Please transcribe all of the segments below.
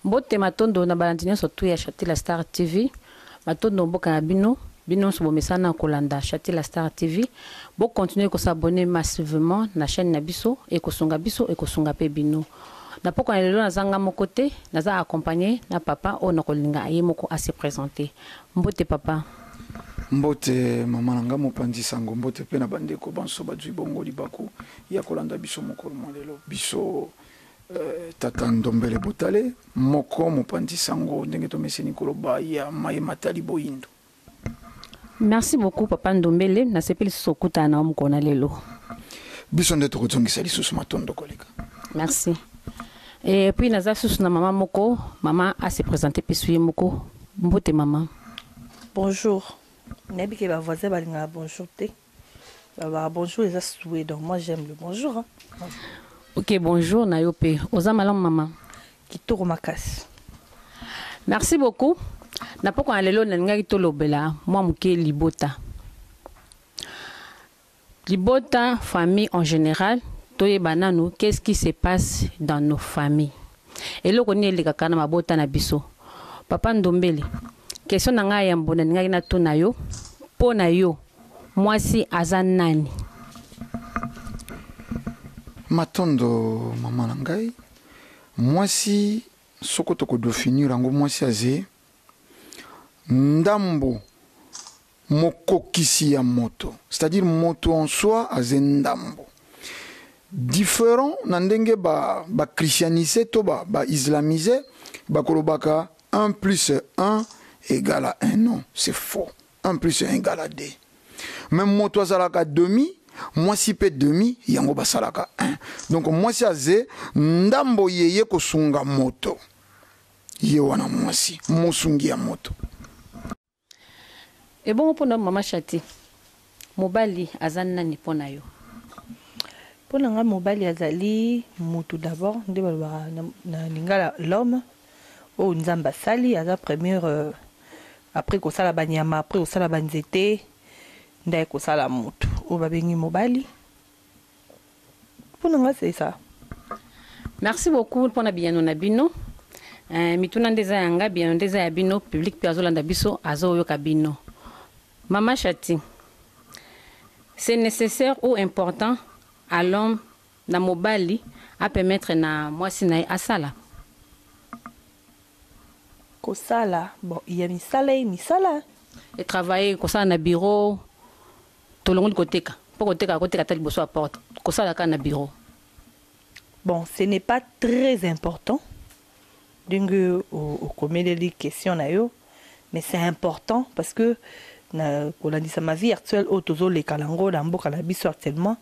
mbote matondo na balandi nyonso tu ya chatila star tv matondo mboka na bino bino nyonso bomesana na kolanda chatila star tv bokontinue kosabone massivement na chaîne na biso ekosunga biso ekosunga mpe bino na pokwa na lelo nazanga moko te naza accompagne na papa oyo nakolinga ye moko ase présente Mbote papa. Mbote maman na nga mopanzi sango mbote pe na ba ndeko banso bazui bongo libaku ya kolanda biso mokolo mwa lelo biso tata ndombele botale moko mopanzi sango ndenge tomeseni koloba ya maye matali boyindo. Merci beaucoup papa ndombele na sepeli lisusu kokutana na yo mokolo na lelo. Biso nde tokozongisa lisusu matondo koleka. Merci. Et puis naza susu na maman moko, maman a se presenter pisu ye moko. Mbote maman. Bonjour. Nayebi ke ba voisins balingaka bonjour te. Balobaka bonjour eza souhait donc moi j'aime le bonjour. Hein. Ok, bonjour na yo pe. Oza malamu maman. Kitoko makasi. Merci beaucoup. Na poko na lelo nalingaki tolobela mwa moke libota. Libota, famille en general, toyeba nanu qu'est ce qui se passe dans nos familles? Eloko nini elekaka na mabota na biso? Papa Ndombele, question na ngai yambo nalingaki natuna yo, mpo na yo, mwasi aza nani? Matondo mama na ngai. Mwasi soko toko definir yango, mwasi aze ndambo Mokokisi ya moto, c'est-à-dire moto en soi aze ndambo. Different na ndenge ba ba christianises to ba ba islamises bakolobaka un plus un egal à un non, c'est faux. Un plus un egal à deux. Mais moto azalaka demi, mwasi pe demi, yango basalaka un. Donc mwasi aze ndambo yeye kosunga moto. Ye wana mwasi, mosungi ya moto. Ebongo pona yo maman Shati mobali aza nani pona yo? Pona nga mobali azali mutu d'abord nde balobaka na lingala l'homme oyo nzambe asali aza première euh, après kosala ba nyama après kosala ba nzete nde aye kosala mutu oyo babengi mobali. Mpo na ngai c'est ça. Merci beaucoup pona biyano na bino. Eh, mituna nde eza ya nga, biyano nde eza ya bino. Public mpe azolanda biso, azoyoka bino. Mama Shati, c'est nécessaire ou important à l'homme na mobali a permettre na mwasi na ye asala kosala bon ya misala ye misala e travailler kosala na bureau Tolongoli koteka mpo koteka akoteka ata liboso ya porte, kosala kaka na bureau. Bon, ce n'est pas très important ndenge okomeleli question na yo mais c'est important parce que na kolandisa ma vie actuelle oyo tozoleka nango na mboka na biso actuellement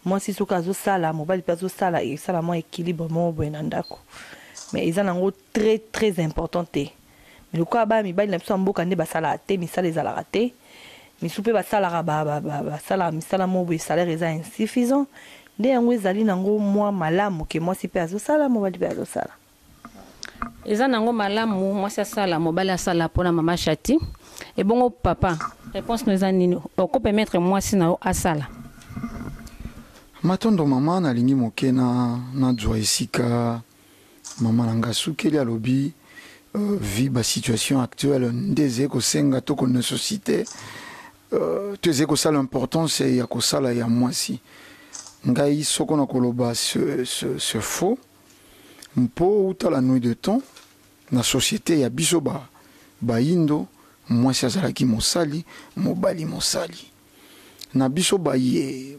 mwasi soki azosala mobali mpe azosala esala mwa équilibre moko boye na ndako mais eza nango très très important te mais lokola bana mibali na biso ya mboka nde basalaka te misala ezalaka te misu mpe basalaka basalaka misala moko boye salaire eza insuffisant nde yango ezali nango mwa malamu ke mwasi mpe azosala mobali mpe azosala eza nango malamu mwasi asala mobali asala mpona mama shati ebongo papa réponse no eza nini oko permettre mwasi na yo asala matondo mama nalingi moke na nazwa esika Maman na nga asukeli alobi vu ba situation actuelle nde ezali kosenga to ko necessite to ezali kosala importance ya kosala ya mwasi ngai soko na koloba ce faux mpo uta la nuit de temps na societe ya biso ba bayindo mwasi azalaki mosali mobali mosali na biso baye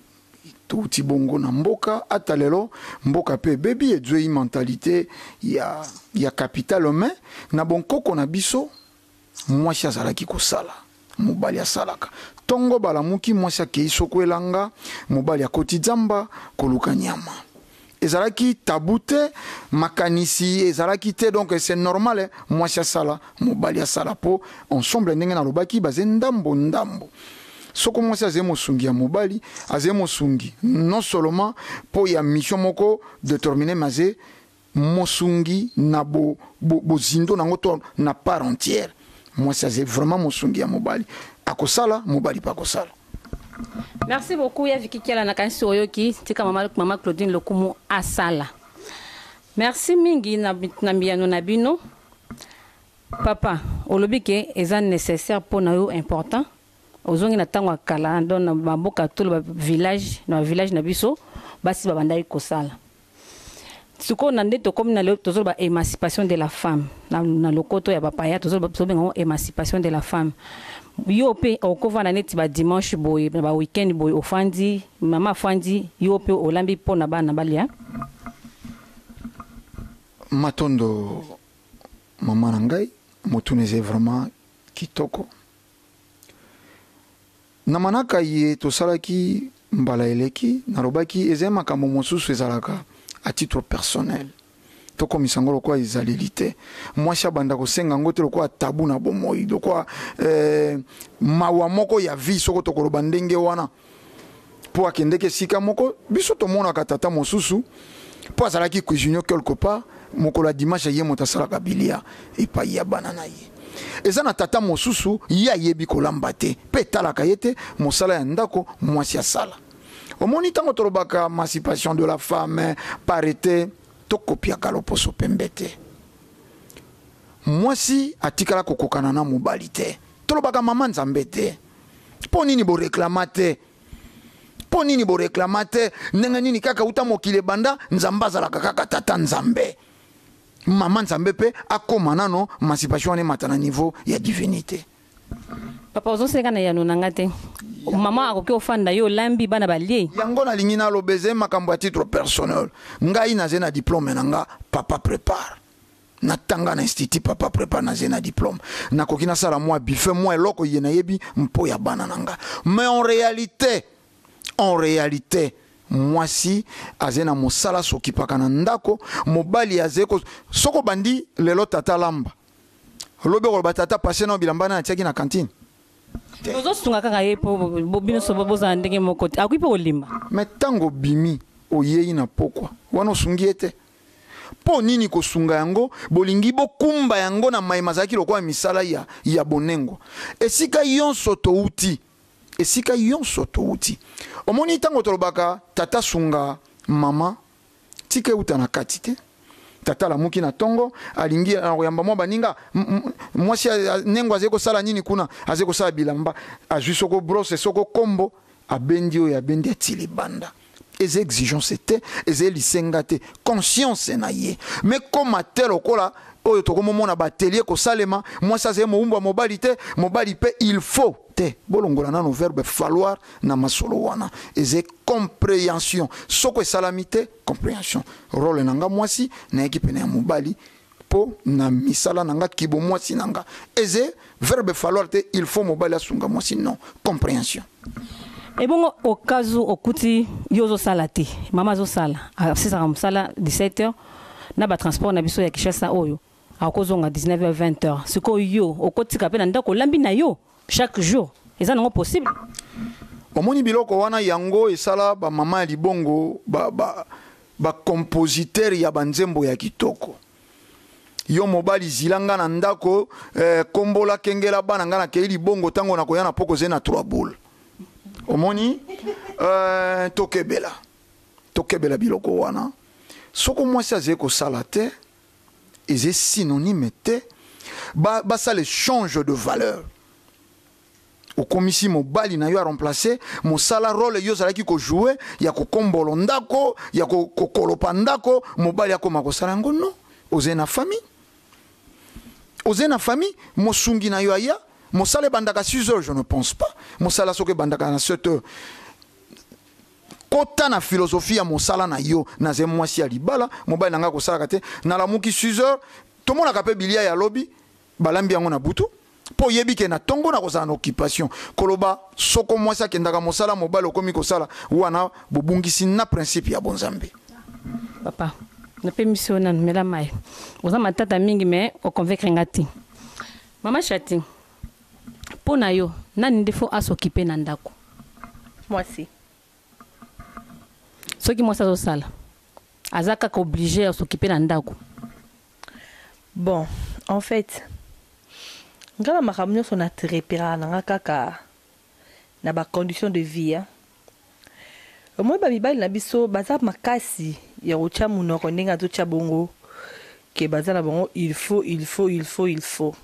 Touti bongo na mboka ata lelo mboka pe ebebi ezueyi mentalite ya ya capital mais na bonkoko na biso mwasi azalaki kosala mobali asalaka tongo balamuki mwasi akeyi soko elanga mobali akoti zamba koluka nyama. ezalaki tabou te makanisi ezalaki te donc c'est normal mwasi asala mobali asala po ensemble ndenge nalobaki baze ndambo ndambo soko mwasi azali mosungi ya mobali azali mosungi non seulement mpo ya mission moko determine mais azali mosungi na bo, bo, bozindo na yango to na part entière mwasi azali vraiment mosungi ya mobali akosala mobali mpe akosala Merci beaucoup ya Vicky Kiala nakanisi oyoki tika mama, mama Claudine Lokumu asala. Merci mingi na, na mbiyano na bino. Papa, olobi ke eza nécessaire mpo na yo important. Ozongi na ntango ya kala don na maboka tolo ba village na ba village na biso basi babandaki kosala. Sikoyo na nde tokomi na lelo tozoloba emancipation de la femme na, na lokoto ya bapaya tozoloba tozobenga yango emancipation de la femme. Yo mpe okovanda neti ba dimanche boye na ba weekend boye ofandi mama afandi yo mpe olambi mpo na bana balia. Matondo mama na ngai motuna eza vraiment kitoko. Na manaka iye tosalaki mbala eleki, nalobaki ezali makambo mosusu ezalaka à titre personnel. Tokomisa yango lokola ezaleli te. Mwasi abanda kosenga yango te lokola tabou na bomoyi, lokola eh, mawa moko ya vie soko tokoloba ndenge wana. Po akendeke esika moko, biso tomonaka tata mosusu. mpo azalaki cuisinier quelque part mokolo ya dimanche ye moto asalaka bilia epai ya bana na ye eza na tata mosusu ye ayebi kolamba te mpe etalaka ye te mosala ya ndako mwasi asala omoni ntango tolobaka mancipation de la femme parete tokopiaka loposo pembe te mwasi atikala kokokana na mobali te tolobaka mama nzambe te mpo nini boreklama te Mpo nini boreklama te? Ndenge nini kaka uta mokili ebanda, Nzambe azalaka kaka Tata Nzambe. Mama Nzambe mpe akoma nano emancipation wana emata na niveau ya divinité. Papa ozoseka na yano na nga te. Mama akoki ofanda yo olambi bana balie. Yango nalingi naloba ezali makambo ya titre personnel. Ngai nazali na diplome na nga papa prépare. natanga na institut papa prepare naze na diplome nakoki nasala mwa bife mwa eloko ye nayebi mpo ya bana na nga mais en réalité en réalité mwasi aze na mosala sokipaka na ndako mobali aze ko soko bandi lelo tata lamba lobi okoloba tata pase na bilamba na atiaki na kantine ozosunga kaka ye mpo bino so bozala ndenge moko te akoki mpe kolimba me ntango obimi oyei na pokwa wana osungi ye te Mpo nini kosunga yango? Bolingi bokumba yango na mai mazalaki lokola misala ya, ya bonengo. Esika yonso touti, esika yonso touti. Omoni, ntango tolobaka, Tata, sunga mama, tika euta na kati te. Tata alamuki na ntongo, alingi na koyamba mwa baninga. Mwasi ya nengo azali kosala nini kuna? Azali kosala bilamba. Azwi soko brose, soko kombo, abendi oyo abendi, ati libanda. eza exigence te eza lisenga te conscience na ye me koma te lokola oyo tokomomona batelie kosalema mwasi azali mowumbu ya mobali te mobali mpe il faut te bolongola nano verbe falloir na masolo wana eza comprehension soko esalami te comprehension role na nga mwasi nayaki pene ya mobali po na misala na nga kibo mwasi na nga eze verbe falloir te il faut mobali asunga mwasi non comprehension ebongo okazu okuti yo ozosala te mama azosala asisaka mosala 17 heures na batransport na biso ya kishasa oyo akozonga 19 heures 20 heures sikoyo yo okotika mpe na ndako olambi na yo Chaque jour eza nango possible. Omoni biloko wana yango esala ba mama ya libongo ba ba ba compositeur ya ba nzembo ya kitoko. Yo mobali zila nga na ndako eh, kombola kengela bana nga na kei libongo tango na koya na poko ze na trois boule. Omoni eh, tokebela tokebela biloko wana soko mwasi azali kosala te eza synonyme te ba basala echange de valeur okomisi mobali na yo a remplacer mosala role yo ozalaki kojoue ya kokombolo ndako ya kokolopa ndako mobali akoma kosala yango no ozali na famille ozali na famille mosungi na yo aya mosala ebandaka 6 heures je ne pense pas mosala soki ebandaka na 7 heures Kota na philosophie ya mosala na yo. Nazali mwasi ya libala, mobali na ngai akosalaka te. Nalamuki 6 heures, tomonaka mpe bilia ya lobi, balambi yango na butu. Mpo oyebi ke na ntongo nakozala na occupation. Koloba soko mwasi akendaka mosala, mobali okomi kosala, wana bobungisi na principe ya bonzambe. Papa, napemisi yo nanu, mela mayi. Oza matata mingi mais oconvaincre ngai te. Mama Shati, Po na yo nani nde faut a s'occuper na ndaku? Mwasi. Soki mwasi azo sala aza kaka oblige ya s'occuper na ndaku? Bon en fait nga na makambo nionso na treperaka na nga kaka na ba conditions de vie hein. Omoni ba mibali na biso baza makasi ya kotia munoko ndenge azo tia bongo que baza na bango il faut il faut il faut il faut.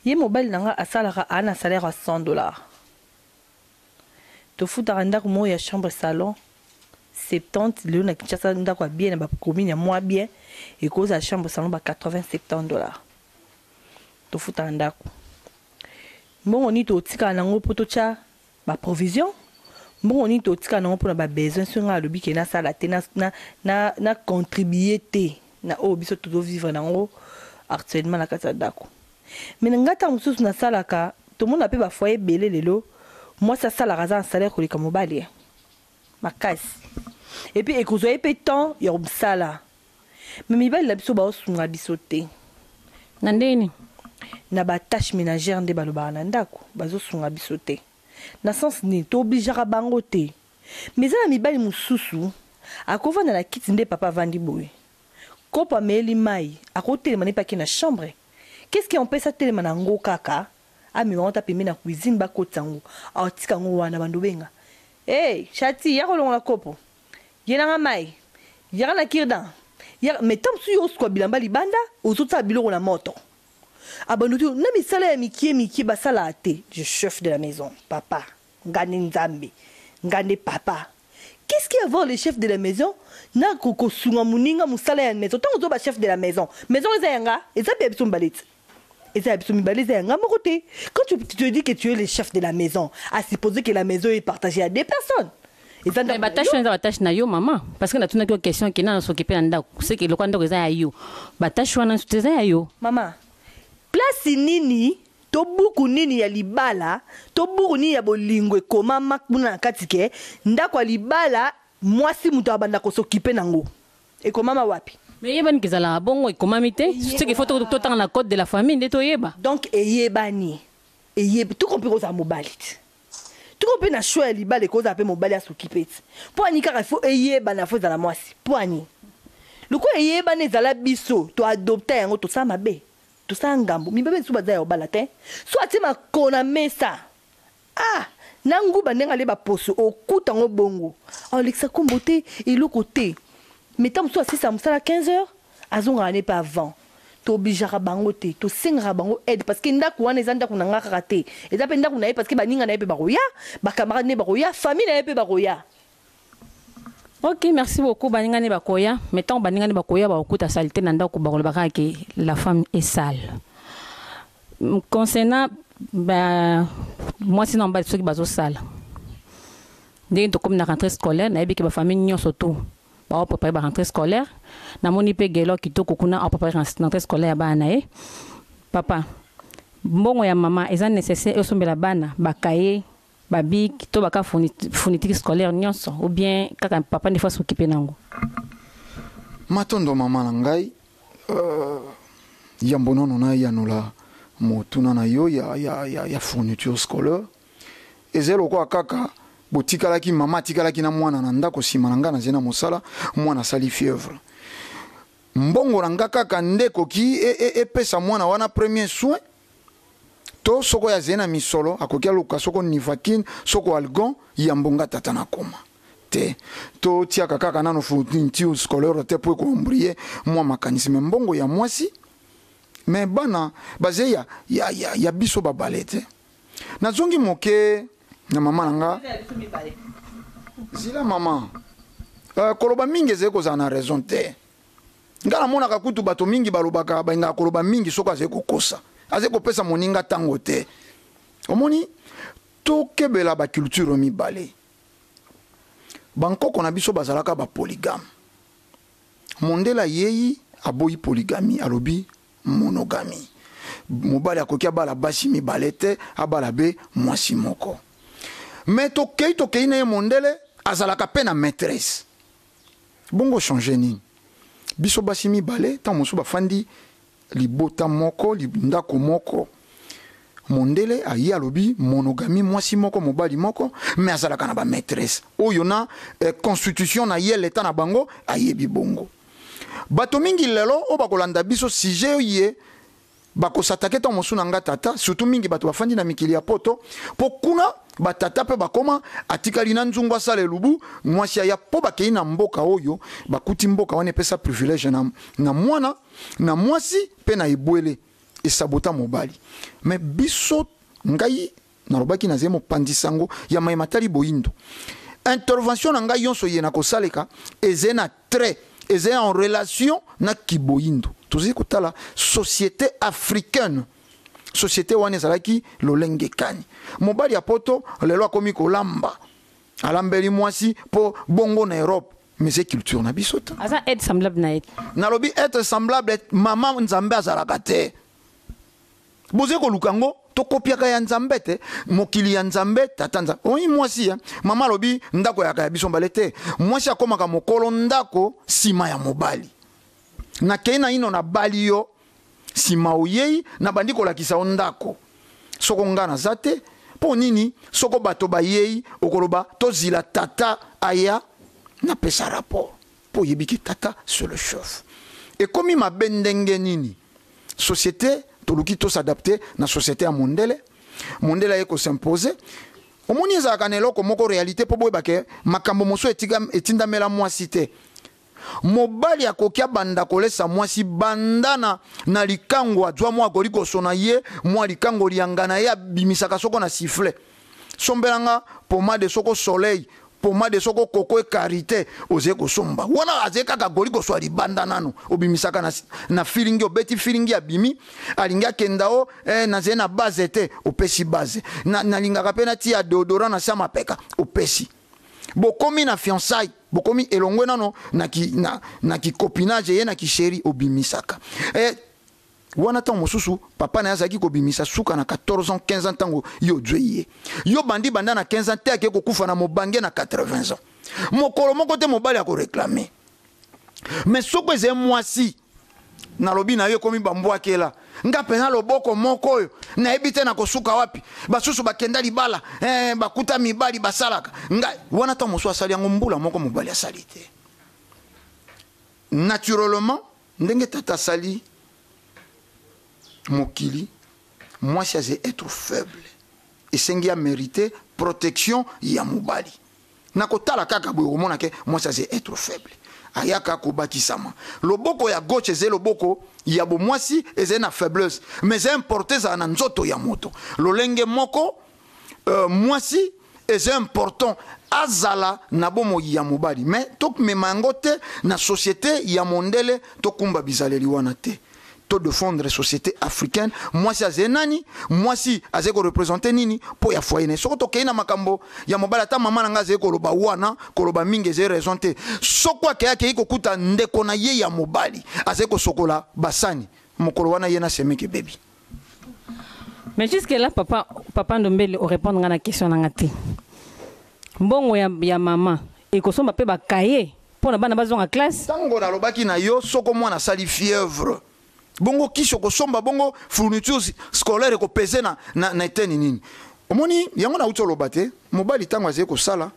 Ye mobali na nga asalaka a na salaire ya 100 dollars. Tofutaka ndaku moko ya chambre salon 70 lelo na Kinshasa ndaku ya bien na ba commune ya mua bien ekoki kozala chambre salon ba 80 70 dollars. Tofutaka ndaku. Mbongo nini tokotikala na ngo po totia Ba provisions? Mbongo nini totika nango pona ba besoins soki ngai alobi ke nasala te, na contribuer te na oyo biso tozo vivre nango actuellement na kati ya ndaku? Mais ngai tango mosusu nasalaka, tomona pe ba foyers ebele lelo, mwasi asalaka aza na salaire koleka mobali eh. makasi epuis ekozwa ye mpe temps ya mosala me mibali na biso baosunga biso te na ndenge nini na batache ménagère nde balobaka na ndako bazosunga biso te na sens nini toobligeaka bango te me eza na mibali mosusu akovanda na kiti nde papa avandi boye kopo ameeli mai akotelema nde mpe ake na chambre qu'est ce qui empêche atelema na yango kaka amema yango ata pembeni ya cuisine bakotisa yango awa tika yango wana bando obenga hey shati yaka olongola kopo yela nga mai yaka na kirdan yaka mais ntango mosusu yo osukwa bilamba libanda ozotala biloko na moto abando te na misala ya mikie mikie basalaka te je chef de la maison papa nga nde nzambe nga nde papa qu'est-ce qui avoir le chef de la maison na kosunga moninga mosala ya maison ntango ozoba chef de la maison maison eza yanga eza mpe ya biso mibale ti eza ya biso mibale eza ya nga moko te quand tu, tu te dis que tu es le chef de la maison à supposer que la maison est partagée à deux personnes eza ndako na batache yo. wana eza batache na yo mama parce que natunaki yo question ke nana sokipe na ndako seke eloko ya ndako eza ya yo batache wana nsutu eza ya yo mama place nini to buku nini ya libala to buku nini ya bolingo ekomama kuna na kati ke ndako ya libala mwasi moto abanda kosokipe nango Ekomama wapi? Mais eyebani kezalaka bongo ekomami te ce qu'il faut totanga na code de la famille nde toyeba. Donc eyebani eyeb tout comme pe kozala mobali ti tout comme pe na choix ya libala ekoki kozala pe mobali asuki pe ti pwani kaka faut eyebana faut ezala mwasi pwani lokola eyebani ezala biso to adopta yango tosala mabe tosala ngambo mibebe lisusu baza ya obala te so atie makona mesa Ah! Na nguba ndenge alie ba poso okuta ngo bongo. Alekisa kombo te, eloko te. Mais tango mosusu asilisa mosala 15 heures, azongaka ne pe avant. To obligeaka bango te, to sengaka bango aide parce que ndaku wana eza ndaku na nga kaka te. Eza pe ndaku na ye parce que ba ninga na ye pe bakoya, ba camarades na ye bakoya, famille na ye pe bakoya. Ok merci beaucoup baninga ne bakoya mais ntango baninga ne bakoya bakokuta salite na ndako bakoloba kaka ke la femme est sale concernant ba mwasi na mobali soki bazosala ndenge tokomi na rentrée scolaire nayebi ke bafamille nyonso tout baoprepare ba rentrée scolaire namoni mpe gelo kitoko kuna aoprepare rentrée scolaire ya bana na ye papa mbongo ya mama eza nécessaire osombela bana bakaye ba bic to baka fourniture scolaire nyonso ou bien kaka papa nde fa s'occuper nango matondo mama na ngai euh, yambo nano nayanola motuna na yo ya, ya, ya, ya fourniture scolaire ezali lokola kaka botikalaki mama atikalaki na mwana na ndako nsima na ngai nazali na mosala mwana asali fievre Mbongo na nga kaka nde ekoki epesa mwana wana premier soin to soko azali na misolo akoki aluka soko nivaquine soko algon yambo nga tata na koma te to tiaka kaka nano fourniture scolaire te po eko embrouiller mwa makanisi me mbongo ya mwasi me bana baze ya, ya, ya, ya biso babale te nazongi moke na mama na nga zila mama uh, koloba mingi ezali kozala na raison te ngai namonaka kutu bato mingi balobaka balingaka koloba mingi soki azali kokosa azali kopesa moninga ntango te omoni tokebela baculture mibale bankoko na biso bazalaka bapoligame mondele ayei aboyi poligami alobi monogamie mobali akoki abala basi mibale te abala be mwasi moko me tokei tokei na ye mondele azalaka mpe na maîtresse bongo change nini biso basi mibale ntango mosusu bafandi libota moko ndako moko mondele aye alobi monogami mwasi moko mobali moko me azalaka na bamaîtresse oyo na eh, constitution na ye leta na bango ayebi bongo Bato mingi lelo oyo bakolanda biso sujet oye bakosatake ntango mosusu na nga tata surtout mingi bato bafandi na mikili ya poto mpo kuna batata mpe bakoma atikali na nzungu asala elubu mwasi aya mpo bakei na mboka oyo bakuti mboka wana epesa privilège na, na mwana na mwasi mpe na ebwele esabota mobali me biso ngai nalobaki nazali mopanzi sango ya maye matali boyindo intervention na ngai yonso ye nakosaleka ezali na trait ezali en relation na kiboyindo tozali kotala société africaine société wana ezalaki lolenge kani mobali ya poto lelo akomi kolamba alambeli mwasi mpo bongo na europe mais c'est culture na biso te aza être semblable na ye nalobi être semblable mama nzambe azalaka te boze koluka yango tokopiaka ya nzambe te mokili ya nzambe tata nzambe oyi mwasi ya mama alobi ndako yaka ya biso mbale te mwasi akomaka mokolo ndako nsima ya mobali nakei naino nabali yo nsima oyei nabandi kolakisa yo ndako soko ngai naza te mpo nini soko bato bayei okoloba tozila tata aya napesa rapport mpo oyebi ke tata se le chef ekomi mabe ndenge nini société toluki to s'adapter na société ya mondele mondele aye ko s'imposer omoni ezalaka na eloko moko réalité mpo boyeba ke makambo mosusu etindamela mwasi te mobali akoki abanda kolesa mwasi banda na, na likango azwa mwa akoli kosona ye mwa likango lianga na ye abimisaka soko na sifle Sombela nga pomade soko soleil pomade soko koko e karite oze kosomba wana aze kaka goli koswa libanda nanu obimisaka na, na filingi obeti filingi abimi alingi akenda o eh, naze na base te opesi base na, nalingaka mpe natia deodorant na sama peka opesi bokomi na fiançaille bokomi elongwe nano na, ki, na, na kicopinage ye na kisheri obimisaka eh, wana ntango mosusu papa na ye azalaki kobimisa suka na 14 ans 15 ans ntango yo ozwei ye yo bandi banda na 15 ans te ake kokufa na mobange na 80 ans mokolo moko te mobali akoreklame me soko ezali mwasi nalobi na yo ekomi bambwakela nga mpenza loboko moko oyo nayebi te nakosuka wapi basusu bakenda libala eh, bakuta mibali basalaka nga wana ntango mosusu asali yango mbula moko mobali asali te naturellement Ndenge tata asali mokili mwasi aze être faible esengi a merite protection ya mobali na kotala kaka boye okomona ke mwasi aze être faible ayaka kobakisama loboko ya gauche ezali loboko ya bomwasi ezali na faiblesse mais importe ezala na nzoto ya moto lolenge moko euh, mwasi eza important azala na bomoi ya mobali me tomema yango te na société ya mondele tokumba bizaleli wana te to defendre société africaine mwasi azali nani mwasi azali korepresente nini mpo ya foye na ye soko tokei na makambo ya mobali ata mama na ngai azali koloba wana koloba mingi ezali raison te soko akei akei kokuta ndeko na ye ya mobali azali kosokola basani mokolo wana ye na semeke bebi Mais jusque là, papa, papa Ndombele, au répondre à la question nangati. Mbongo ya, ya maman, et qu'on soit ba cahier pour la bana bazonga classe. Tango na lobaki na yo, soko moi na sali fièvre. Bongo kisi okosomba bongo fournitures scolaires ko peser na na, na eteni nini? Omoni yango na uti oloba te, mobali tango azali kosala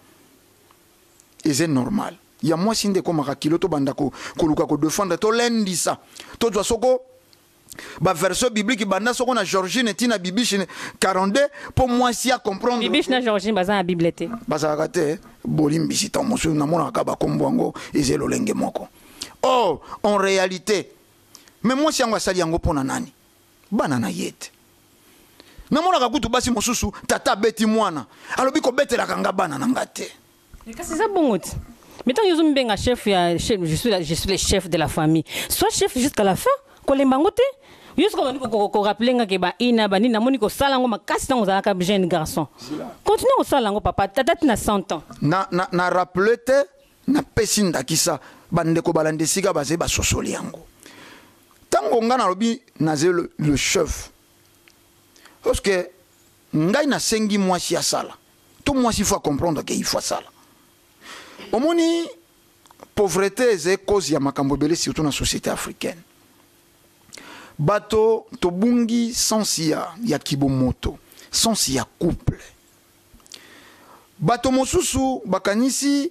eze normal. Ya mwasi nde ekomaka kilo tobanda ko, koluka ko defendre tolendisa tozwa soko ba version biblique banda soko na Georgine tina bibiche 42 po mwasi a comprendre bibiche na Georgine baza na bible te bazalaka te bolimbisi tango mosusu namonaka bakombo yango eza lolenge moko or en réalité me mwasi yango asali yango mpo na nani bana na ye te namonaka kutu basi mosusu tata abeti mwana alobi kobetelaka nga bana na nga te Mais kasi eza bongo ti. Mais tant yozo mbenga chef ya chef, je suis la, je suis le chef de la famille. Sois chef jusqu'à la fin. Kolemba ngo te. Yo siko bandi ko ko rappeler nga ke ba ina ba nini namoni ko sala ngo makasi tango zalaka jeune garçon. Continue ko sala ngo papa tata tina 100 ans. Na na na rappeler te na pesi ndakisa bande ko balande sika baze ba sosoli yango. Tango nga na lobi na le chef. Parce que Ngai na sengi mwasi asala to mwasi faut a comprendre que il faut asala omoni pauvreté eza cause ya makambo ebele surtout na société africaine bato tobungi sense ya, ya kibomoto sense ya couple bato mosusu bakanisi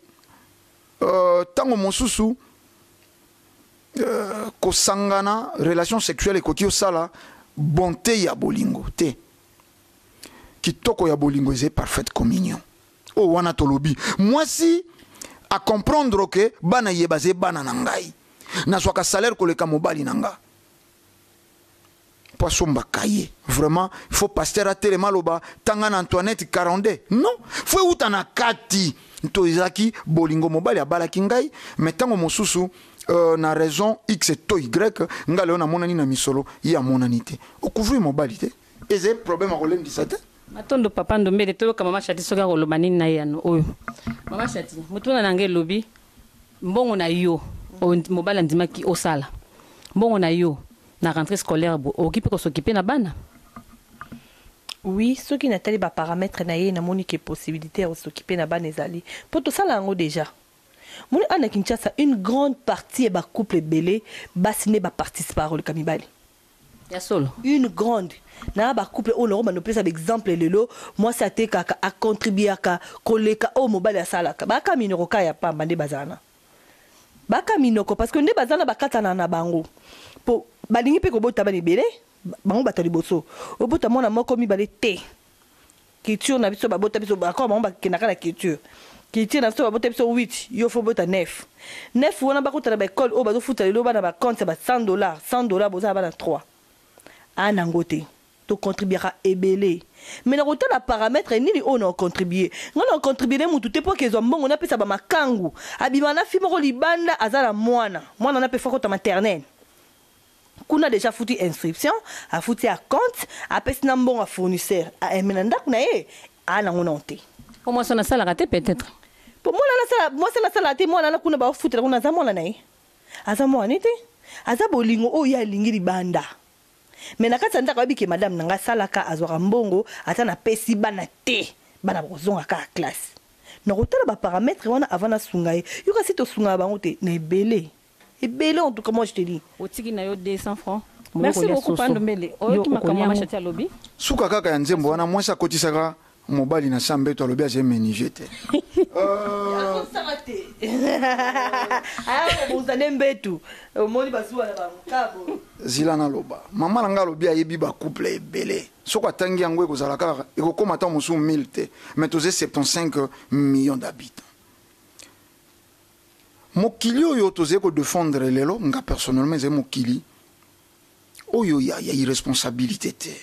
ntango euh, mosusu euh, kosangana relation sexuelle ekoki osala bonte ya bolingo te kitoko ya bolingo eza parfaite communion oyo wana tolobi mwasi acomprendre ke bana ye baza bana na ngai nazwaka salaire koleka mobali na nga mpo asombaka ye vraiment faut pasteur atelema aloba tanga na antoinette 42 non fo euta na kati to ezalaki bolingo mobali abalaki ngai me ntango mosusu Euh, na raison x to y nga leo namonani na misolo ye amonani te okuvri mobali te eza ye problème akolembisa te matondo papa ndombele toyoka mama chati soki akoloba nini na eyano oyo mama chati motuna na ngai elobi mbongo na yo mobali andimaki osala mbongo na yo na rentrée scolaire okoki mpe kosokipe na bana oui soki natali baparamètre na ye namoni ke possibilité ya kosokipe na bana ezali mpo tosala yango déjà Omoni awa na Kinshasa une grande partie ya ba couple ebele basi nde ba participaka koleka mibali. Ya solo. Une grande na ba couple oyo nakobanda kopesa ba exemple lelo mwasi atekaka a contribuaka koleka oyo mobali asalaka ba ka minoko ka ya pamba nde bazala na ba ka minoko parce que nde baza na bakatana na bango po balingi pe kobota bana ebele bango bato ya liboso obota mwana moko mibale te Culture na biso babota biso bakoma bango bakendaka na culture culture na biso babota biso 8 yo faut bota 9 9 wana bakota na ba école oyo bazofuta lelo bana ba compte ya ba 100 dollars 100 dollars boza na bana 3 aa nango te tocontribuaka ebele me na kotala parametre nini oyo na ocontribue ngai na ocontribue ne mutu te mpo kezwa mbongo napesa bamakangu abima na fi moko libanda aza na mwana mwana wana mpe fo akota maternele kuna dejà afuti inscription afuti a compte apesi na mbongo a fournisseur a aime na ndaku na ye a nango nao te po mwasi wana asalaka te peut être po mwana nasala mwasi nasala te mwana na kuna bafutela kuna aza mwana na ye aza mwana ne te aza bolingo oyo ye alingi libanda me na kati ya ndako ayebi ke madame na ngai asalaka azwaka mbongo ata napesi bana te bana bakozonga kaka classe nakotala baparametre wana avant nasunga ye yo kasi tosungaka bango te na ebele ebele en tout cas moi je te dis. Otiki na yo 200 francs. Merci beaucoup pa ndombele oyoki makambo mama shati alobi. Suka kaka ya nzembo wana mwasi akotisaka mobali na sa mbeto alobi azali menige te zila naloba mama na ngai alobi ayebi bacouple ebele soki atangi yango ekozala kaka ekokóma ntango mosusu 1000 te mais toza 75 millions d'habitants Mokili oyo tozali ko defendre lelo, nga personnellement ezali mokili oyo ya ya irresponsabilite te.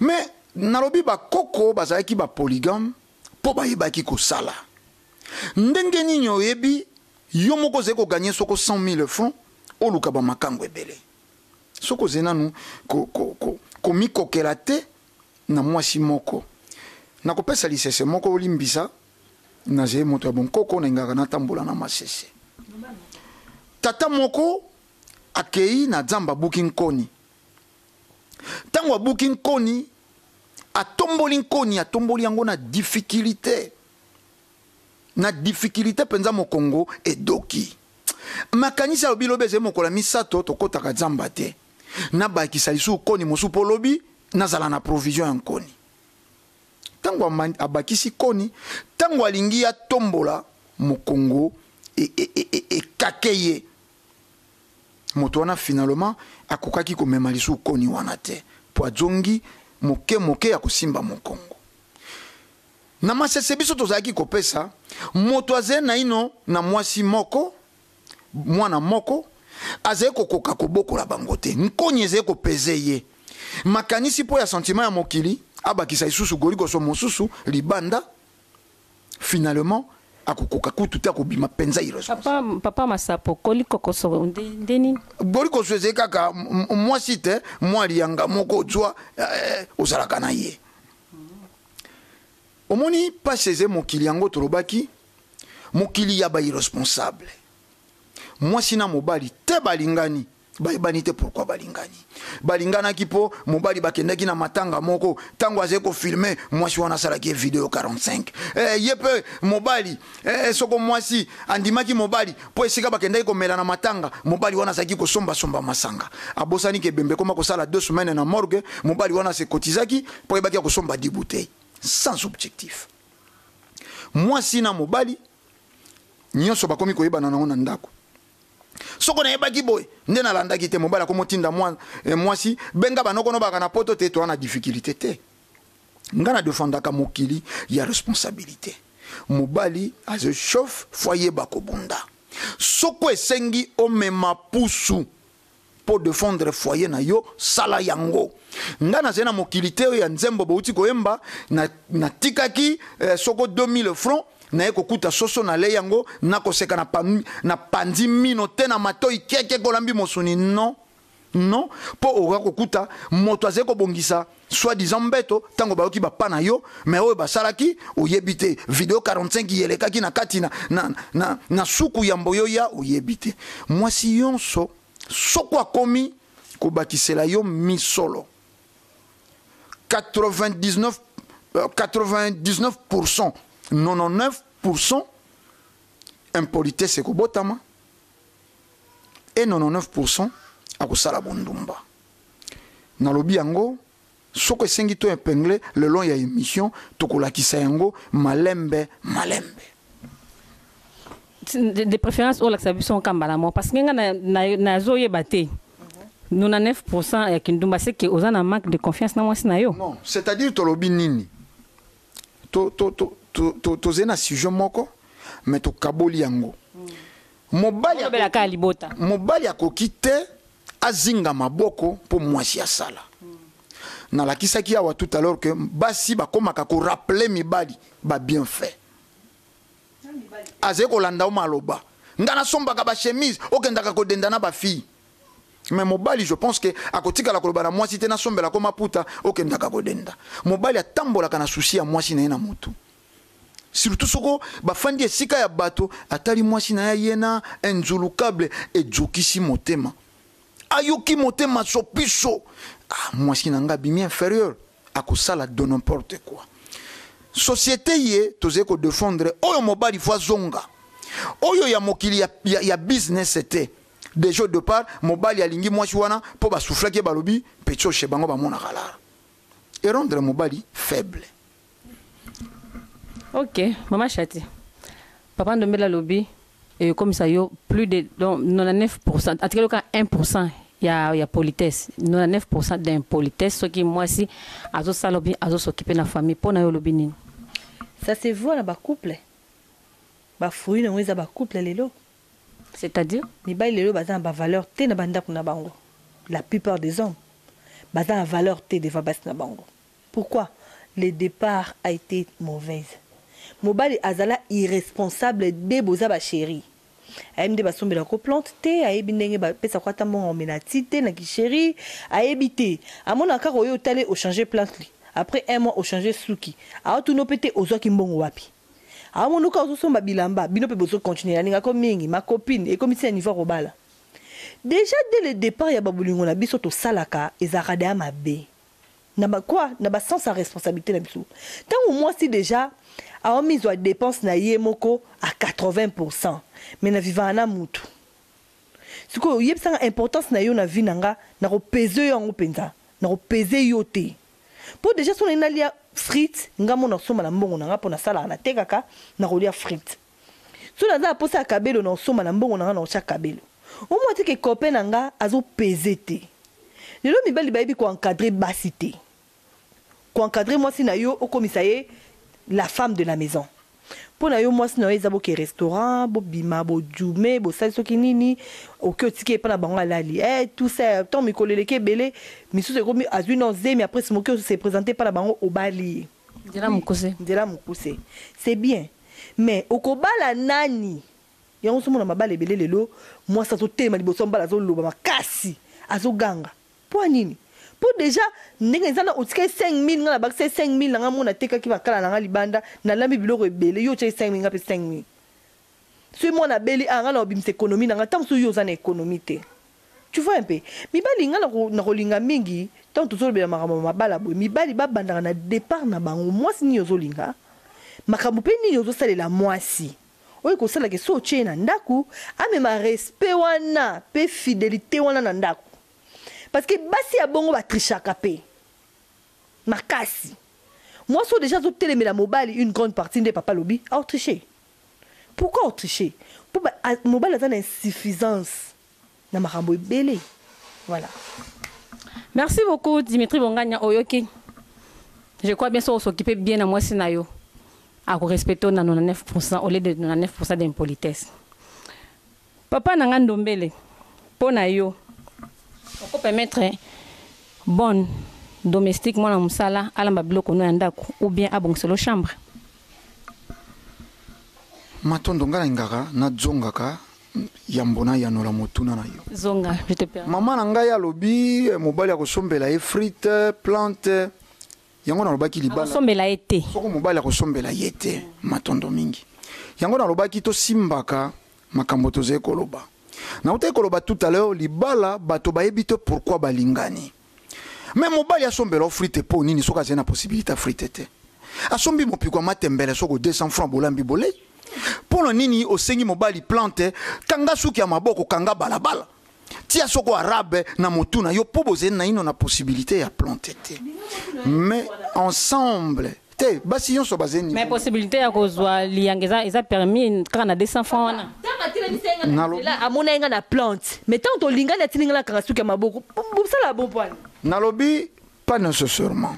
Mais nalobi ba koko bazalaki ba polygame mpo bayebaki kosala. Ndenge nini oyebi yo moko ozali ko gagner soko 100.000 francs oluka ba makangu ebele? Soko ozali nanu ko, ko, ko, komikokela te na mwasi moko. Nakopesa lisese moko olimbisa. nazali moto ya bonkoko nalingaka natambola na masese tata moko akei na zamba abuki nkoni ntango abuki nkoni atomboli nkoni atomboli yango na difikilite na difikilite mpenza mokongo edoki makanisi alobi lobi ezali mokolo ya misato tokɔtaka zamba te nabakisa lisusu nkoni mosusu mpo lobi nazala na provision ya nkoni Tango amandi, abakisi koni, tango alingi atombola mokongo e, e, e, e, ekake ye. Moto wana finalement akokaki komema lisusu koni wana te, mpo azongi moke moke ya kosimba mokongo. Na masese biso tozalaki kopesa moto azali naino na mwasi moko mwana moko azali kokoka kobokola bango te nkoni ezali kopeze ye makanisi mpo ya sentiment ya mokili abakisa lisusu golikoso mosusu libanda finalement akokoka kutu te akobima mpenza papa, papa masapo golikokoso nde nini golikoso ezali kaka mwasi te mwa liyanga moko ozwa eh, ozalaka na ye omoni mpasi eze mokili yango tolobaki Mokili ya ba irresponsable. Mwasi na mobali te balingani bayebani te pourquoi balingani balinganaki mpo mobali bakendaki na matanga moko ntango azali kofilme mwasi wana asalaki ye video 45 eh, ye mpe mobali eh, soko mwasi andimaki mobali mpo esika bakendaki komela na matanga mobali wana azalaki kosombasomba masanga abosani ke bembe ekoma kosala deux semaine na morgue mobali wana asekotizaki mpo ayebaki ya kosomba dibutei sans objectif mwasi na mobali nyonso bakomi koyebana nango na ndako soko nayebaki boye nde nalandaki te mobali akomotinda eh, mwasi benga banokono baka na poto te toa na difficulté te ngai nadefandaka mokili ya responsabilité mobali azochauffe fo ayeba kobunda soko esengi omema pusu po defendre foyer na yo sala yango nga nazali na mokili te oyo ya nzembo bouti koyemba natikaki na eh, soko 2000 francs naye kokuta soso na lei yango nakoseka na panzi mino te na matoi keke kolambi mosuni non non mpo okoka kokuta moto azali kobongisa Soit disant mbeto tango bayoki ba pas na yo mais oyo basalaki oyebi te video 45 yelekaki na kati na, na, na, na suku ya mboyoya oyebi te mwasi yonso soko akomi kobakisela yo misolo 99 99% 99% impolitesse ekobotama et 99% akosala bondumba Nalobi yango soko esengi to epingle le long ya emission tokolakisa yango malembe malembe. de, de préférence olakisa biso nkamba na mwa parce que nga nazoyeba te nous na 9 pourcent ya kindumba c'est que oza na manque de confiance na mwasi na yo non c'est à dire tolobi nini tozali to, to, to, to, to, to na sujet moko mais tokaboli yango mobali mobali akoki te azinga maboko mpo mwasi asala nalakisaki awa tout à l'heure que basi bakomaka korapele mibali babienfait azali kolanda yo maloba ngai nasombaka bachemise okendaka kodenda na bafille me mobali je pense ke akotikala koloba na mwasi te nasombelako maputa okendaka kodenda mobali atambolaka na susi ya mwasi na ye na motu Surtout soko bafandi esika ya bato atali mwasi na ye aye na inzulukable ejokisi motema ayoki motema sopiso ah, mwasi na nga bimi inferieur akosala de n'importe quoi société ye tozali kodefendre oyo mobali fo azonga oyo ya mokili ya, ya, ya business te dejo de part mobali alingi mwasi wana mpo basuflaki ye balobi pechoshe bango bamonaka lara erendre mobali faible Ok, maman Chati. Papa Ndombela lobi et comme ça yo plus de donc 99% en tout cas le cas 1% il y a il y a politesse 99% d'impolitesse ce qui moi si azo sala bien azo s'occuper na famille pona yo lobi nini Ça se voit na ba couple. Ba fruits nango eza ba couple lelo. c'est-à-dire Mibali lelo baza na ba valeur te na ba ndako na bango. La plupart des hommes baza na valeur te devant basi na bango. Pourquoi le depart a ete mauvaise? Mobali azala irresponsable de boza ba cherie ayebi nde basombelaka yo plante te ayebi ndenge ba pesaka yo ata mbongo ya komela ti te na ki cherie ayebi te amonaka kaka oye otale o changer plantly apres un mois o changer suki aotuna yo pe te ozwaki mbongo wapi aomona yo kaka ozo somba bilamba bino pe bozo continuer nalingaka yo mingi ma copine ekomi ti na niveau ya kobala dejà de le depart ya ba bolingo na biso tosalaka ezalaka dejà mabe. na ba quoi na ba sens ya responsabilite na biso tango mwasi dejà awa mizwa depense na ye moko à 80 pourcent mais na vivaka na mutu sikoyo yebisa nga importance na yo na vie na nga na ko peze yo yango penza na ko peze yo te po dejà soki na lingi na lia frite nga moko na somba na mbongo na nga po na salaka na tekaka na ko lia frite Soki naza na posa ya cabelo nao somba na mbongo na nga nao tia cabelo au moins atiki copain na nga azo peze te lelo mibali bayebi ko encadre basi te ko encadre mwasi na yo okomisa ye la femme de la maison mpo na yo mwasi na yo eza boke restaurant bobima bojume bosali soki nini oke otiki epa na bango alali eh tout ça tant mikolo eleki ebele misusu ekomi azwi na zemi après moke se présenter epa na bango obali ye nzela mokuse nzela mokuse c'est bien Mais okobala nani? Yango ozo mona mabala ebele lelo mwasi azo telema liboso ya mobali azo loba makasi azo ganga pwa nini? Po dejà ndenge eza na otikaki 5000 nga na bakisa ye 5000 na nga moko na tekaki makala na nga libanda na lambi biloko ebele yo otiaki 5000 nga pe 5000 soki mwana abeli awa nga nao bimisa economie na nga ata mosusu yo oza na economie te. Tu vois un peu? Mibali nga nako nako linga mingi tango tozo lobela makambo ya mabala boye mibali ba bandaka na depart na bango muasi nini ozo linga? Makambo pe nini ozo salela muasi oyo eko sala ke soki otie ye na ndaku amema respect wana pe fidelite wana na ndaku parce que basi ya bongo ba trichaka pe makasi muasi oyo dejà azo telemela mobali une grande partie nde papa alobi au triche pourquoi au triche? Po ba mobali aza na insuffisance. na makambo ebele voilà merci beaucoup Dimitri Bonganya oyoki je crois bien soki s'occuper bien na mwasi na yo ako respecter na 99% au lieu de 99% d'impolitesse papa na nga ndombele mpo na yo oko permettre bonne domestique mwana mosala alamba biloko no ya ndako ou bien abongiselo chambre matondo ngai nalingaka nazongaka Yambo nayanola motuna na yo. Zonga, je te permets. Mama na ngai alobi eh, mobali akosombela ye frite, plante. Yango nalobaki libala. Akosombela ye te. Soko mobali akosombela ye te. Matondo mingi. Yango nalobaki tosimbaka makambo tozali koloba. Nautaki koloba tout à l'heure libala bato bayebi te pourquoi balingani. Mais mobali asombela yo frite po nini soki azali na possibilité ya frite te asombi mopiko ya matembele soko 200 francs bolambi bolei mpo na nini osengi mobali plante kanga suki ya maboko kanga balabala tia soko arabe na motu na yo mpo bozali naino na possibilité ya plante te mais ensemble te basi yonso baza niveau mais possibilité ya kozwa liyanga eza eza permis kaka na 200 francs wana amona ye nga na plante mais ntango tolingani atindi nga na kanga suki ya maboko bosala bon poani nalobi pas nécessairement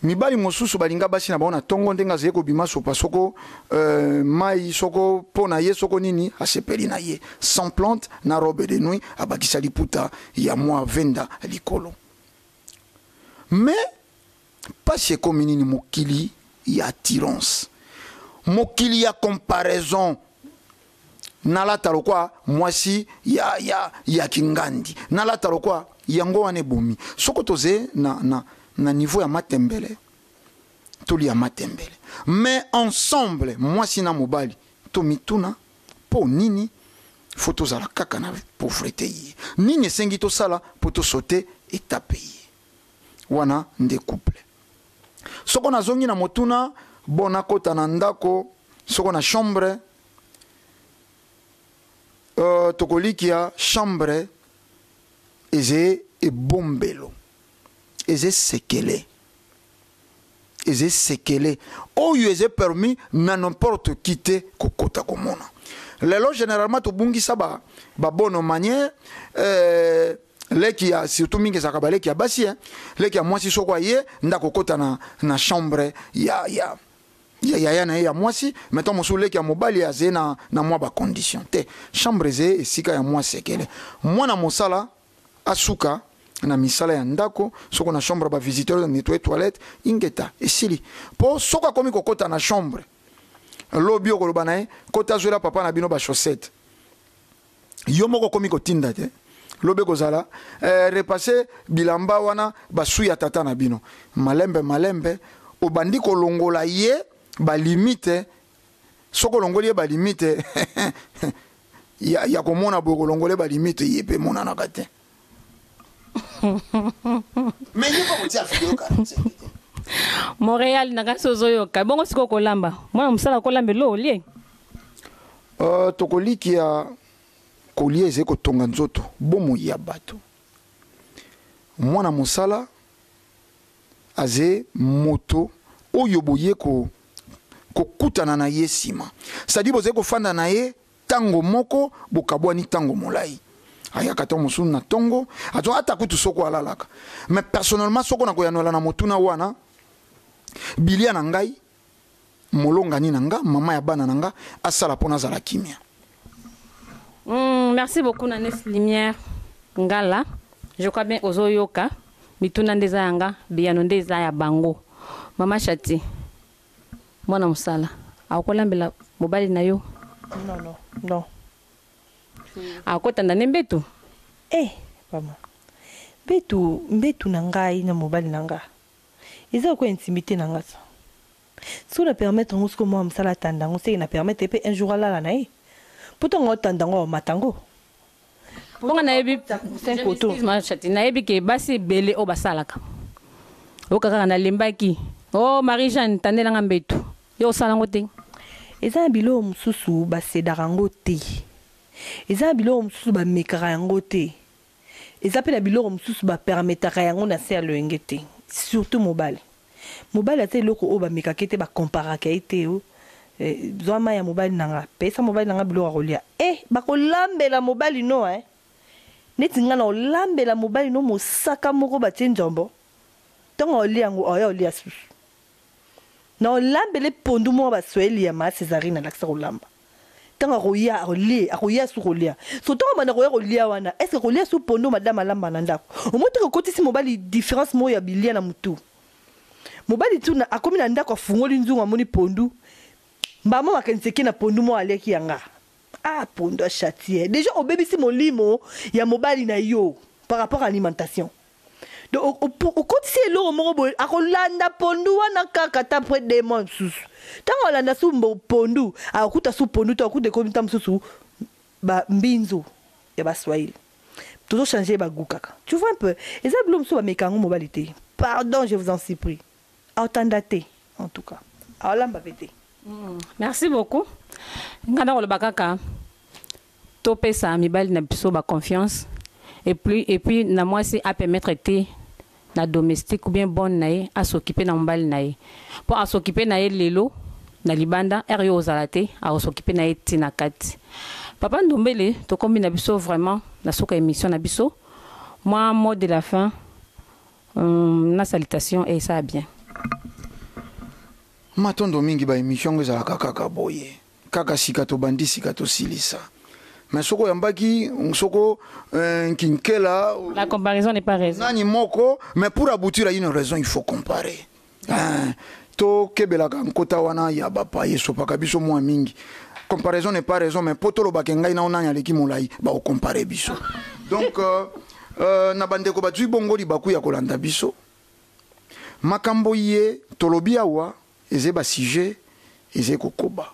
mibali mosusu balinga basi na bango na ntongo ndenge azali kobima sopa soko euh, mai soko mpo na ye soko nini asepeli na ye sans plante na robe de nuit abakisa liputa ya mwa venda likolo mais Pasi ekomi nini mokili ya attirance mokili ya comparaison nalata lokwa mwasi ya, ya, ya kingandi nalata lokwa yango wana ebomi soko toze na, na, na niveau ya matembele tolia matembele mais ensemble mwasi na mobali tomituna mpo nini fo tozala kaka na pauvrete ye nini esengi tosala mpo tosote etape ye wana nde couple soko nazongi na motuna bon nakota na ndako soko na chambre uh, tokolikia chambre eze ebombelo eze sekele eza esekele oyo eza permis na n'importe qui te kokota komona lelo généralement tobungisa ba, ba bonne manière euh, leki ya surtout mingi ezalaka baleki ya basi eh, leki ya mwasi soko aye nda kokota na, na chambre ya, ya ya yaya na ye ya mwasi maintenant mosusu leki ya mobali azali na, na mwa bacondition te chambre eze esika ya mwa sekele mwana mosala asuka na misala ya ndako soko na chambre ba visiteur na nettoyer toilette ingeta esili po soko akomi kokota na chambre lobi okoloba na ye kota azuela papa na bino ba chaussette yo moko okomi kotinda te lobi ekozala eh, repasse bilamba wana basu ya tata na bino malembe malembe obandi kolongola ye balimite soki olongoli ye balimite ya, ya komona boye kolongole balimite ye mpe emonanaka te mais ye mpe kotia video 45 te montréal na kasi ozoyoka bongo sikoyo kolamba mwana mosala kolamba elo olie uh, tokolikia kolia ezali kotonga nzoto bomoi ya bato mwana mosala Aze moto oyo boye ko kokutana na ye sima sadi bozali kofanda na ye tango moko bokabwani tango molayi ayaka tango mosusu na tongo azo ata kutu soko alalaka mais personnellement soko na koyanola na motuna wana bilia na ngai molongani na nga mama ya bana na nga asala mpo nazala kimia mm, merci beaucoup na nes lumière ngala je crois bien ozoyoka mituna nde eza ya nga biyano nde eza ya bango mama chati mwana mosala akolambela mobali na yo non, non, non. akotanda nde mbetu eh, mama mbetu mbetu na ngai na mobali na ngai Eza lokola intimite na nga ça. Soki na permettre yango sikoyo muana musala atanda yango seke na permettre ye pe un jour alala na ye? Po tango aotanda yango aomata yango? Po nga nayebi, je m'excuse ma chatte, nayebi ke basi ebele oyo basalaka. Oyoka kaka nalembaki oh Marie Jeanne tandela nga mbetu. Yo osala yango te? Eza na biloko mususu ba cedaka yango te. Eza na biloko mususu ba mekaka yango te. Eza pe na biloko mosusu ba permetaka yango na se ya loyenge te surtout mobali. Mobali aza eloko oyo ba mekaka ye te ba comparaka ye te oh zwa mayi ya mobali na nga pesa mobali na nga biloko ya kolia eh bako lambela mobali no hein neti nga nako lambela mobali no mosaka moko batie nzombo tango ako lia yango akoya kolia susu nako lambela ye pondu moko ba soyeli ya ma Cesarine alakisa kolamba Tango akoya alie akoya su kolia so tango abanda koya kolia wana eske akolia su pondu madame alamba na ndaku omoni tango okotisi mobali difference moko ya bilia na mutu mobali tu na akomi na ndaku afungoli nzungu amoni pondu mbala moko makanisi eke na pondu moko aliaki ya nga ah pondu a chatie dejà obebisi molimo ya mobali na yo par rapport alimentation. okotisi ye eloko moko boye akolanda pondu wana kaka ata apres de mois mosusu ntango alanda su pondu akokuta su pondu to akuta ekomi nta mosusu bambinzo ya baswahili tozochange ye bagu kaka tu vois un peu eza bilo mosusu bameka yango mobali te pardon je vous en supplie aotanda te en tout cas aolamba mpe te mm. merci beaucoup ngai nakoloba kaka To pesa mibali na biso ba confiance et plus et puis na mwasi a permettre te na domestique ou bien bonne na ye a s'occuper na mobali na ye po a s'occuper na ye lelo na libanda heure yo ozala te ako s'occuper na ye ti na kati. Papa Ndombele tokomi na biso vraiment na suka ya emission na biso mwa mot de la fin hum na salutation esala bien. Matondo mingi ba emission yango ezalaka kaka boye. Kaka sika tobandi sika tosilisa. Mais soko yambaki soko euh, nkinkela. La comparaison n'est pas raison. Nani moko mais pour aboutir à une raison il faut comparer. Hein. tokebelaka nkota wana ya bapaye esopaka biso mwa mingi comparaison n'est pas raison mais mpo tolobaka ngai nao nani aleki molai bakokompare biso donc euh, euh, na bandeko bazwi bongo libaku ya kolanda biso makambo ye tolobi awa Ezali ba sujets ezali kokoba.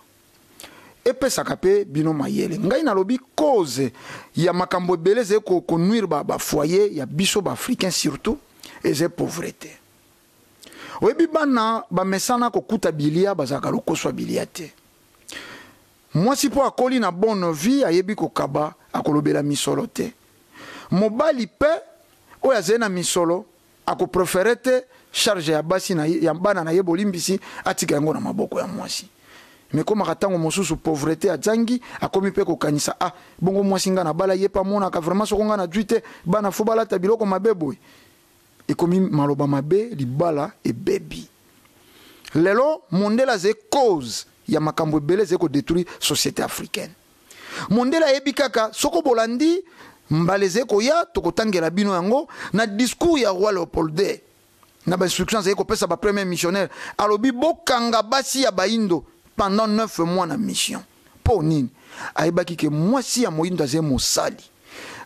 Epesaka mpe bino mayele. Ngai nalobi cause ya makambo ebele ezali ko, ko nuire ba, ba foyers ya biso ba Africains surtout, ezali pauvrete. Oyebi bana bamesana kokuta bilia, bazalaka lokoso ya bilia te. Mwasi mpo akoli na bonne vie, ayebi kokaba, akolobela misolo te. Mobali mpe oyo azali na misolo, Ako preferer te charge ya basi na ye, ya bana na ye bolimbisi atika yango na maboko ya mwasi. Mais ekomaka tango mosusu pauvrete azangi akomi pe kokanisa ah bongo mwasi nga nabala ye pe amonaka vraiment soko nga nazui te bana faut balata biloko mabe boye? Ekomi maloba mabe libala ebebi. Lelo mondele azali cause ya makambo ebele ezali ko detruire societe africaine. Mondele ayebi kaka soko bolandi mbala ezali koya tokotangela bino yango na discours ya roi Leopold ii na ba instructions azali kopesa ba premier missionnaire alobi bokanga basi ya bayindo pendant 9 mois na mission mpo nini ayebaki ke mwasi ya moyindo azali mosali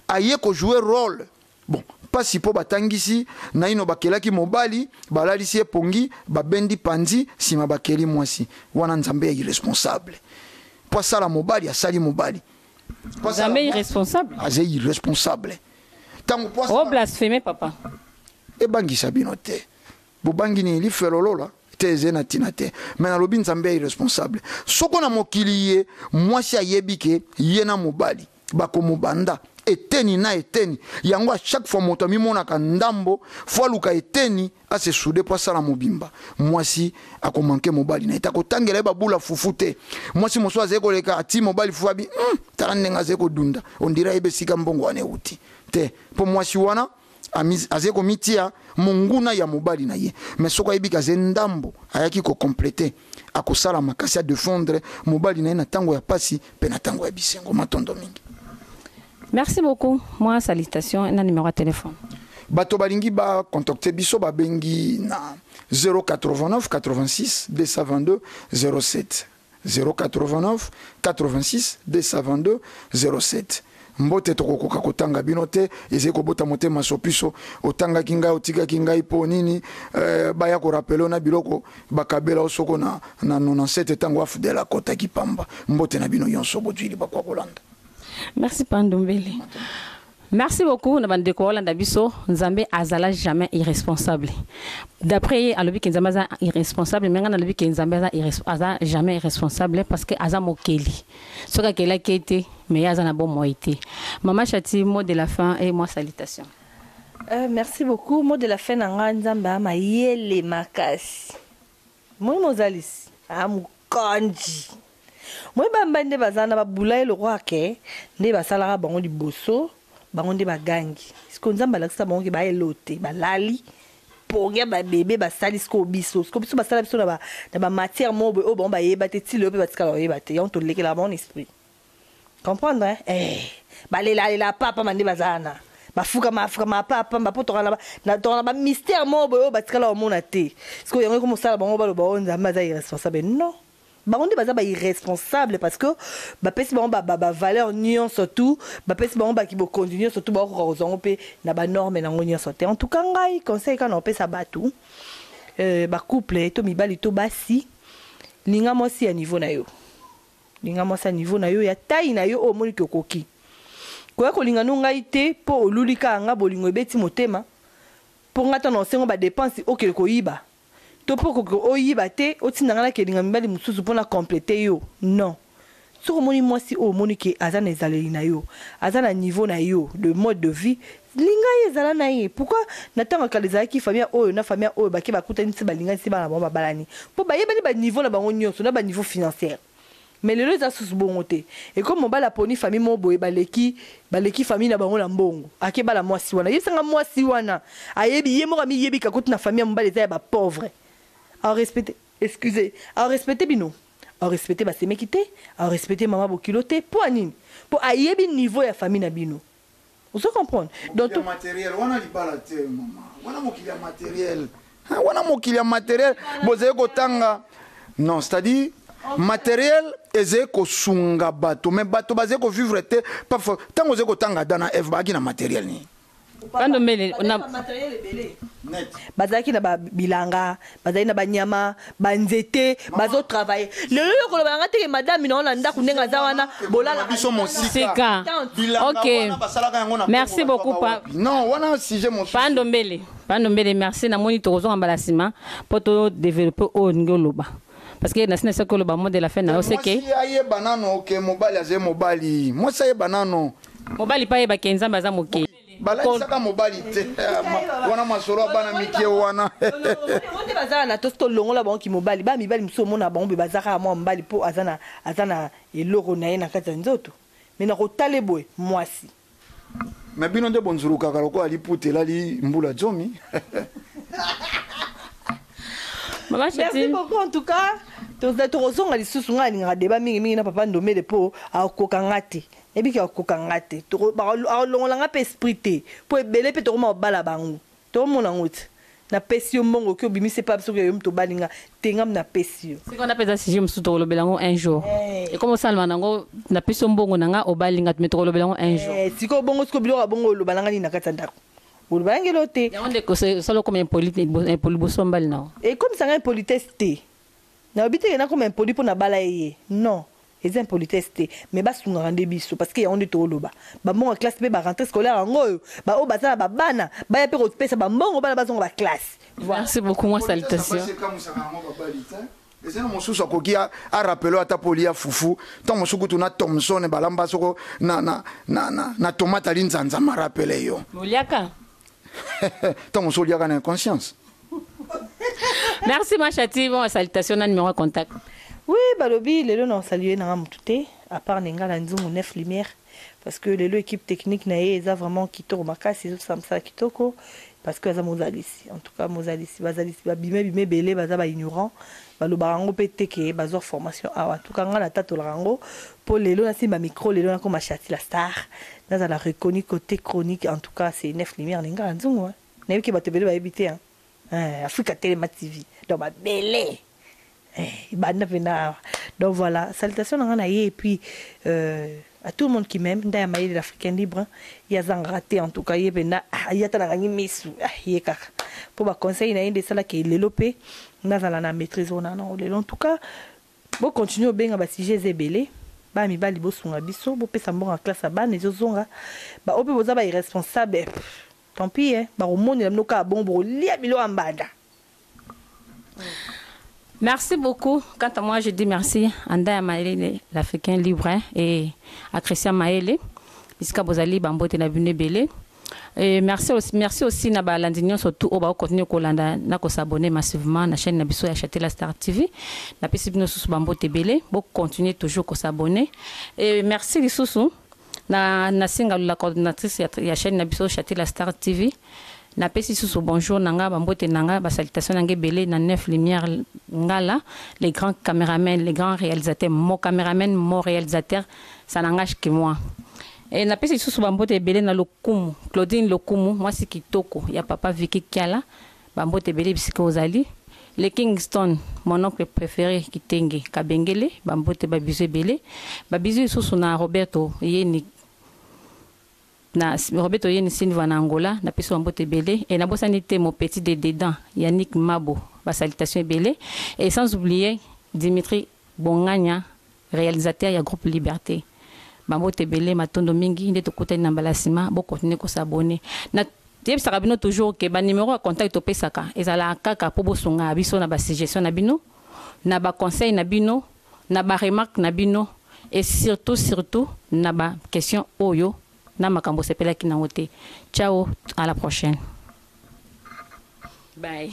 aye ko jouer role Bon, mpasi mpo batangisi naino bakelaki mobali, balalisi ye pongi, babendi panzi, nsima bakeli mwasi. Wana Nzambe ya irresponsable. Mpo asala mobali, asali mobali. Nzambe irresponsable? Aza irresponsable. Tango mpo asala... Oh, blaspheme, papa. Ebangisa bino te. Bobangi nini lifelo lola? te eze na ntina te me nalobi nzambe ya irresponsable soko na mokili ye mwasi ayebi ke ye na mobali bakomobanda eteni na eteni yango a chaque fois moto amimonaka ndambo fo aluka eteni ase soude mpo asala mobimba mwasi akomanke mobali na ye te akotangela ye babula fufu te mwasi mosusu azali koleka ati mobali fufu abi mm, tala ndenge azali kodunda ondira yebe esika mbongo wana euti te mpo mwasi wana azali komitia monguna ya mobali na ye me soki ayebi ke azali ndambo ayaki kocomplete akosala makasi ya defendre mobali na ye na ntango ya mpasi mpe na ntango ya bisengo matondo mingi merci beaucoup mwa salutation na numero ya telefone bato balingi bacontacte biso babengi na 089 86 222 07 089862207 Mbote tokokoka kotanga bino te ezali kobota motema sopiso otangaki ngai otikaki ngai po nini eh, baya ko rapelo na biloko bakabela osoko na, na 97 tango afdel akotaki pamba mbote na bino yonso bojili bakwa kolanda Merci Pandombele. Merci beaucoup na bande ko landa biso Nzambe azala jamais irresponsable. D'après ye alobi ke Nzambe aza irresponsable mais nga na lobi ke Nzambe aza aza jamais irresponsable parce que aza mokeli. Soka kela kete mais ya aza na bon moi te. Maman Chati mot de la fin et moi salutation. Euh, merci beaucoup mot de la fin na nga Nzambe ama yele makasi. Moyi mozalisi a mokonji. Moyi bambai nde baza wana ba bula ye lokola ke nde basalaka bango liboso bango nde ba gangi sikoyo nzambe alakisa bango ke ba elote ba lali pongia ba bebe ba sali sikoyo biso sikoyo biso ba sala biso na ba na ba matière moyo boye oyo bango ba yeba te ti lelo pe ba tikala ko yeba te yango to lekelaka bango na esprit comprendre hein eh balela lela pa pamba nde baza wana bafukama afukama pa pamba mpo tokana tokana ba mystère moko boye oyo batikala komona te sikoyo yango ekomi kosala bango baloba oyo nzambe aza irresponsable non bango nde baza ba irresponsable parce que bapesi bango ba, ba, ba valeur nyonso tout bapesi bango bakibokonzi nyonso tout bakokoka kozwa yango mpe na banorme na yango nyonso te en tout cas ngai conseil kaka na kopesa bato euh, bacouple to mibali to basi linga mwasi ya niveau na yo Linga mwasi ya niveau na yo, ya taille na yo oyo omoni que okoki. Koya kolinga no ngai te po oluli kaka nga bolingo ebeti motema. Po nga ata na osengo ba depenses okende koyiba. To po okoki oyiba te otinda nga na kelinga mibali mosusu po na completer yo. Non. Soki omoni mwasi oyo omoni que aza na ezaleli na yo, aza na niveau na yo de mode de vie, Linga ye zala na ye pourquoi na tango ya kala ezalaki famille oyo na famille oyo bake bakutani ti balingani ti bana na bango babalani po bayebani ba niveau na bango nionso na ba niveau financière mais lelo eza susu bongo te ekomi mobali aponi famille moko boye baleki baleki famille na bango na mbongo ake bala muasi wana yebisa nga muasi wana ayebi ye moko amiyebi ke akuti na famille ya mobali eza ya ba pauvre au respecte excuse au respecte bino au respecte ba semeki te au respecte maman bokilo te pua nini po ayebi niveau ya famille na bino. Ozo comprendre? Donc to. Mokili ya materiel wana libala te maman. Wana mokili ya materiel. Hein wana mokili ya materiel bozali kotanga non c'est à dire materiel ezali kosunga bato mais bato bazali kovivre te parfois ntango ozali kotanga ada na eve baaki na materiel nini bandombele na bazalaki na babilanga Bazali na ba nyama, ba nzete, bazo travailler. Lelo yo koloba na nga te ke madame na yo na ndaku ndenge aza wana, bolalaka biso mosika. Ok. Merci beaucoup pa. Non, wana sujet mosusu. Pa Ndombele. Pa Ndombele, merci. Na moni toko zonga mbala sima po to developper oyo olingi oloba. Parce que na sina saki oloba mot de la fin na yo c'est que. Mwasi ayeba nanu ke mobali azali mobali. Mwasi ayeba nanu. Mobali pe ayeba ke Nzambe aza moke. balakisaka mobali te wana masolo ya bana mike wana nde bazala na to soki olongola bango kimobali bana mibali mosusu omona bango mpe bazaka ya mwa mobali mpo aza na eloko na ye na kati ya nzoto me na kotale boye mwasi me bino nde bonzulukaka lokola liputa elali mbula zomi merci beaucoup en tout cas tokozonga lisusu ngai alingaka deba mingimingi na papa ndomele mpo akoka nga te Ebiki akokoka nga te toko bako akolongola nga pe esprit te po ebele pe tokoma kobala bango toko mona ngo te na pesi yo mbongo oke obimisi epa biso ke yo mutu obali nga te nga na pesi yo Sika wana pe eza sujet mususu toko lobela ngo un jour eh. ekoma osalama na ngo na pesi yo mbongo na nga obali nga te mais toko lobela ngo un jour eh, siko bongo siko biloko ya bongo oloba na nga nini na kati ya ndako oloba na ngelo te yango nde osala okoma impoli impoli boso mbali na ngo ekomisa nga impolitesse te na obiteke na koma impoli po na bala ye non Eza impolitesse te mais ba sungaka nde biso parce que yango nde to loba ba mbongo ya classe pe ba rentree scolaire yango oyo ba oyo baza na ba bana ba ya pe ko pesa ba mbongo bana ba zonga ba classe. Merci beaucoup moi salutation. eza na mosusu akoki arapelo ata mpo olia fufu ntango mosusu kutu na thomson balamba soko na, na, na, na, na tomate alinzanza marapele yo oliaka Tant mosusu oliaka na inconscience. Merci ma chati, bon salutation na numéro contact. Oui, balobi lelo na saluer nanga mutu te à part Nengala Nzungu 9 lumière parce que lelo équipe technique na ye eza vraiment kitoko makasi ezo sala mosala kitoko parce que aza mozalisi en tout cas mozalisi bazalisi babime bime ebele baza ba ignorant balobaka yango mpe te ke bazwa formation awa en tout cas ngai natatolaka yango Po lelo na simba micro lelo na koma Shassy la star na zala reconnu cote chronique en tout cas c'est neuf lumière lingala nzungu hein na yoki batu ebele ba yebi te hein eeh Africa telema TV donc ba bele eh ebanda pena awa donc voilà salutation na nga na ye et puis euh à tout le monde qui m'aime nda ya mayele l'Africain libre ye azangaka te en tout cas ye pena ah ye ata na kangi misu ah ye kaka po ba conseils na ye nde esala ke lelo pe na zala na maitrise oyo na na ngo lelo en tout cas Bo continuer obenga ba sujet eza ebele bana mibali bosunga biso bopesa mbongo ya classe ya bana ezozonga ba oyo mpe boza ba irresponsable tant pis hein bakomonela bino kaka bongo bokolia biloko ya mbanda. Merci beaucoup quant à moi je dis merci à Ndaya Mayele l'africain libre et à Christian Mayele bisika bozali ba mbote na bino ebele. Et merci aussi, merci aussi na ba landi nionso tout oyo bako continuer kolanda na ko s'abonner massivement na chaîne na biso ya Chatela Star TV. Na pesi bino susu ba mbote ebele, bo continuer toujours ko s'abonner. Et merci lisusu na na singa la coordinatrice ya, ya chaîne na biso Chatela Star TV. Na pesi susu bonjour na nga ba mbote na nga ba salutations na nga ebele na neuf lumière ngala les grands caméramans, les grands réalisateurs, mon caméraman, mon réalisateur, ça n'engage que moi. E, napesi lisusu bambote ebele na lokumu Claudine Lokumu, mwasi kitoko ya papa Vicky Kiala. Bambote ebele bisika ozali. Le Kingston, mon oncle prefere Kitenge Kabengele, bambote babizu ebele. Babizu lisusu na Roberto Yeni na Roberto Yeni Silva na Angola, napesi bambote ebele. E nabosani te mon petit de dedans Yannick Mabo, basalutation ebele. Et sans oublier Dimitri Bonganya Realisateur ya groupe liberte. Ba mbote ebele matondo mingi nde tokutani na mbala sima bo continuer ko s'abonner na yebisaka bino toujours que ba numero ya contact topesaka ezalaka kaka po bosunga biso na ba suggestion na bino na ba conseil na bino na ba remarque na bino et surtout surtout na ba question oyo na makambo osepelaki nango te ciao à la prochaine bye